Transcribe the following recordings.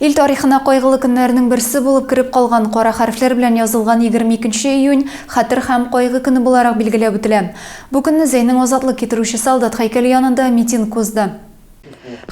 Ил тарихына кайгылы көннәрнең берсе булып кереп калган кара хәрефләр белән язылган 22 нче июнь хәтер һәм кайгы көне буларак билгеләп үтелә. Бу көнне Зәйнең азатлык китерүче солдат һәйкәле янында митинг узды.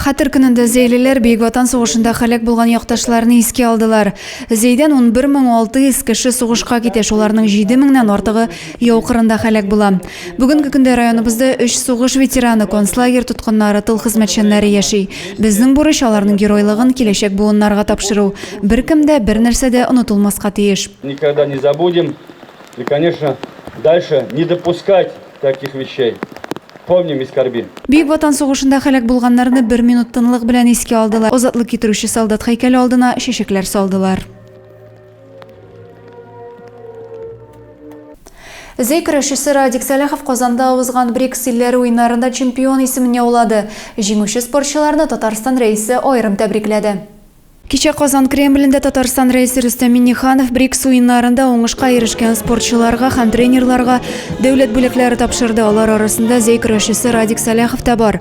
Хәтер көнендә зәйлеләр Бөек Ватан сугышында һәлак булган якташларны искә алдылар. Зәйдән 11 мең 600 кеше сугышка китә, шуларның 7 меңнән артыгы яу кырында һәлак була. Бүгенге көндә районыбызда өч сугыш ветераны, концлагерь тоткыннары, тыл хезмәтчәннәре яши. Безнең бурыч аларның геройлыгын киләчәк буыннарга тапшыру. Беркем дә, бернәрсә дә онытылмаска тиеш. Никогда не забудем и, конечно, дальше не допускать таких вещей. Помним и скорбим. Бөек Ватан сугышында һәлак булганнарны бер минут тынлык белән искә алдылар, азатлык китерүче солдат һәйкәле алдына чәчәкләр салдылар. Зәй көрәшчесе Радик Сәләхов Казанда узган БРИКС илләре уеннарында чемпион исемен яулады. Җиңүче спортчыларны Татарстан Рәисе аерым тәбрикләде. Кичә Казан Кремлендә Татарстан Рәисе Рөстәм Миңнеханов БРИКС уеннарында уңышка ирешкән спортчыларга һәм тренерларга дәүләт бүләкләре тапшырды. Алар арасында зәй көрәшчесе Радик Сәләхов та бар.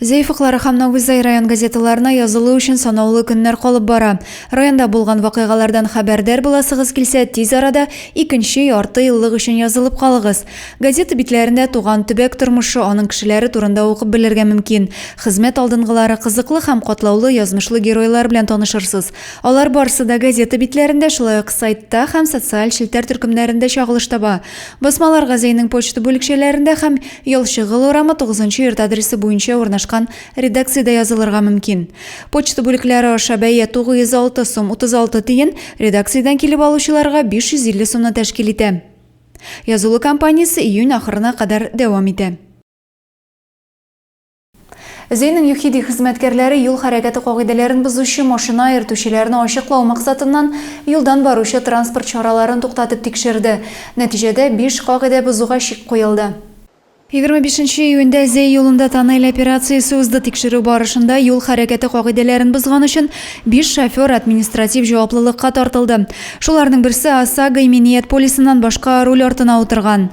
Зәйфыклары һәм Нагузай район газеталарына язылу өчен санаулы көннәр калып бара. Районда булган вакыйгалардан хәбәрдар буласыгыз килсә, тиз арада икенче ярты еллык өчен язылып калыгыз. Газета битләрендә туган төбәк тормышы, аның кешеләре турында укып белергә мөмкин. Хезмәт алдынгылары, кызыклы һәм катлаулы язмышлы геройлар белән танышырсыз. Алар барысы да газета битләрендә, шулай ук сайтта һәм социаль челтәр төркемнәрендә чагылыш таба. Басмалар газәйнең почта бүлекчәләрендә һәм Ялчыгыл урамы 9 нчы йорт адресы буенча урнашкан редакциядә язылырга мөмкин. Почта бүлекләре аша бәя 906 сум 36 тиен, редакциядән килеп алучыларга 550 сумны тәшкил итә. Язылу кампаниясе июнь ахырына кадәр дәвам итә. Зейнең ЮХИДИ хезмәткәрләре юл хәрәкәте кагыйдәләрен бозучы машина йөртүчеләрне ачыклау максатыннан юлдан баручы транспорт чараларын туктатып тикшерде. Нәтиҗәдә, биш кагыйдә бозуга чик куелды. Егерме бишенче июньдә Зей юлында тоннель операциясе узды. Тикшерү барышында юл хәрәкәте кагыйдәләрен бозган өчен биш шофер административ җаваплылыкка тартылды. Шуларның берсе ОСАГО иминият полисыннан башка руль артына утырган.